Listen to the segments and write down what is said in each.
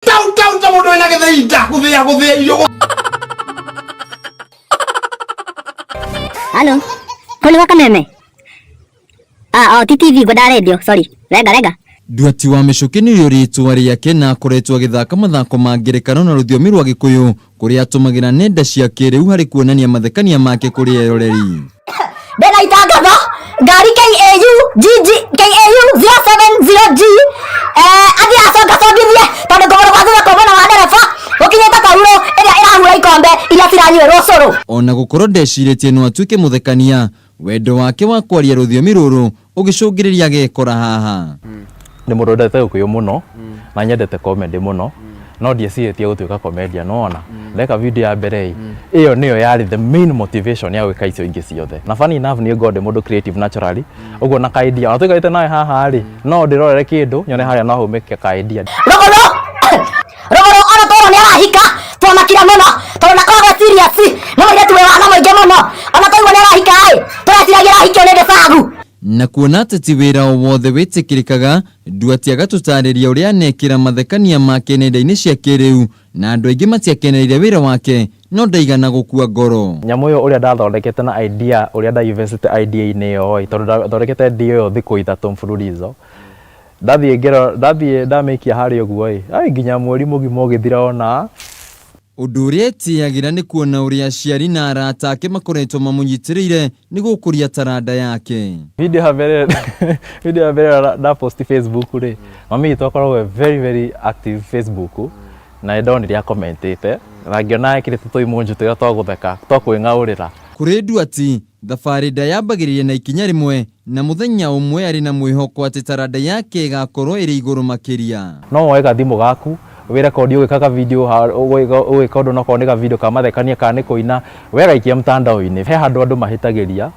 Tau tau ta mundu ina githei nda guthia guthia irio gu- Halo. Kwani waka meme? Ah, oh, ti TV ngwenda radio, sorry. Rega rega. Nduati wa mĩcũkĩ nĩ ũrĩtwa rĩake na akoretwo agĩthaka mathako ma ngerekano na rũthiomi rwa gĩkũyũ kũrĩa atũmagĩra nenda cia kĩrĩu harĩ kuonania mathekania make kũrĩ eroreri. Ndĩna itangatho ngari KAU GG KAU 070G eh athi acoka congithie tondũ kũgũrũ gwa thutha kwa mwena wa ndereba gũkinyĩte kaurũ ĩrĩa ĩrahura ikombe iria ciranyuĩrwo cũrũ. Ona gũkorwo ndecirĩtie no atuĩke mũthekania, Wendo wake wa kwaria rũthiomi rũrũ ũgĩcũngĩrĩria agekora haha. Nĩ mũndũ wendete ũkũyũ mũno na nyendete comedy mũno no ndiecirĩtie gũtuĩka comedian no ona ndeka video ya mbere ĩ ĩyo nĩyo yarĩ the main motivation ya gwĩka icio ingĩ ciothe na funny enough niĩ ngoragwo ndĩ mũndũ creative naturally ũguo na ka idea ona tũikarĩte nawe haha rĩ no ndĩrorere kĩndũ nyone harĩa no haume ka idea Rogo no! rũgũrũ ona toro nĩ arahika twamakira mũno tondũ nakoragwo serious nĩ mũirĩtu wĩ wana mũingĩ mũno ona twaigua nĩ arahika ĩ tũreciragia arahikio nĩ gĩbagu na kuona atĩ ti wĩra o wothe wĩtĩkĩrĩkaga nduati agatũtarĩria ũrĩa anekĩra mathekania make nenda-inĩ cia kĩrĩu na andũ aingĩ matiakenereire wĩra wake no ndaigana gũkua ngoro nyamũ ĩyo ũrĩa ndathondekete na idea ũrĩa ndainvestĩte idea-inĩ ĩyo ĩ tondũ ndathondekete idea ĩyo thikũ ithatũ mfululizo Ndathiĩ ngero ndathiĩ ndamĩikia harĩa ũguo ĩ ai nginya mweri mũgima ũgĩthira ona Ũndũ ũrĩa etĩyagĩra nĩ kuona ũrĩa aciari na arata ake makoretwo mamũnyitĩrĩire nĩ gũkũria taranda yake. Video ya mbere video ya mbere nda post Facebook rĩ mami witũ akoragwo e very very active Facebook na nĩ ndonire a comment ĩte na ngĩona ekĩrĩte tũ emoji twega twa gũtheka twa kwĩng'aũrĩra. Kũrĩ Nduati, Thabarĩ ndayambagĩrĩria na ikinya rĩmwe, na mũthenya ũmwe arĩ na mwĩhoko atĩ taranda yake ĩgaakorũo ĩrĩ igũrũ makĩria. No woe gathimũ gaku, wĩrekondi ũgĩka ka video, ũgĩka ũndũ onokorwo nĩ ga video ka mathekania kana nĩ kũina, wegaikia mtandao-inĩ. He handũ andũ mahĩtagĩria,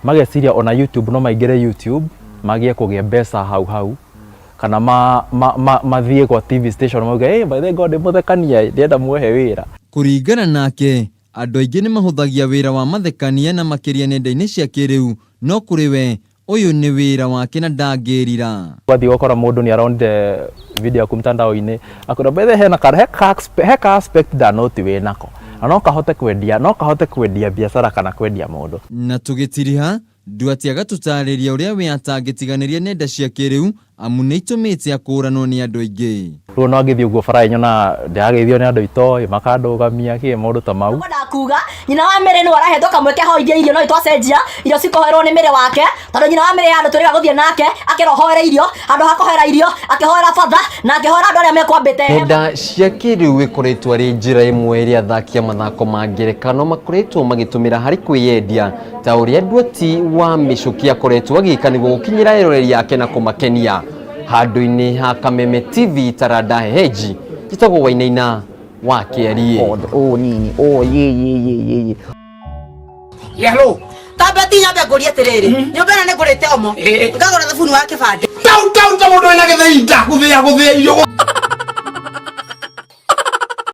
mageciria ona YouTube no maingĩre YouTube, magie kũgĩa mbeca hau hau, kana mathiĩ gwa TV station mauge, ĩ by the way ngorwo ndĩ mũthekania-ĩ, ndĩrenda mũhe wĩra. Kũringana nake, Andũ aingĩ nĩ mahũthagia wĩra wa mathekania na makĩria nenda-inĩ cia kĩrĩu, no kũrĩ we, ũyũ nĩ wĩra wake na ndangĩrira. Wathiĩ ũgakora mũndũ nĩ aronire video yaku mtandao-inĩ, akwĩra by the way hena ka, he ka aspect, he ka aspect nda note wĩ nako, na no kahote kwendia, no kahote kwendia biacara kana kwendia mũndũ. Na tũgĩtiriha, Duarte agatũtaarĩria ũrĩa we atangĩtiganĩria nenda cia kĩrĩu amu nĩ itũmĩte akũũranwo nĩ andũ aingĩ. Rĩu ona ngĩthiĩ ũguo bara-ĩ nyonaga ndĩrageithio nĩ andũ itoĩ, makandũgamia kĩ, maũndũ ta mau. Ngwendaga kuuga nyina wa Mary nĩwe ũrahetwo kamweke ahoithie irio no nĩtwacenjia irio cikoherwo nĩ Mary wake tondũ nyina wa Mary e handũ twĩrĩga gũthiĩ nake akera ũhoere irio handũ ha kũhoera irio akĩhoera Father na akĩhoera andũ arĩa mekwambĩte heaven. Nenda cia kĩrĩu ĩkoretwo arĩ njĩra ĩmwe ĩrĩa athaki a mathako ma ngerekano makoretwo magĩtũmĩra harĩ kwĩyendia. ta ũrĩa nduati wa mĩcũki akoretwo agĩka nĩguo gũkinyĩra eroreri yake na kũmakenia handũ-inĩ ha kameme tv taranda heheji njĩtagwo wainaina wa kĩariĩ Othe, ũũ nini ũũ yĩyĩyĩyĩyĩ Yellow. tambe ti nyambe ngũrie atĩrĩrĩ nyũmba ĩno nĩ ngũrĩte omo Ĩĩ. ngagũra thabuni wa kĩbandĩ Tau tau ta mũndũ wĩna gĩthĩi ndakuthĩa gũthĩa irio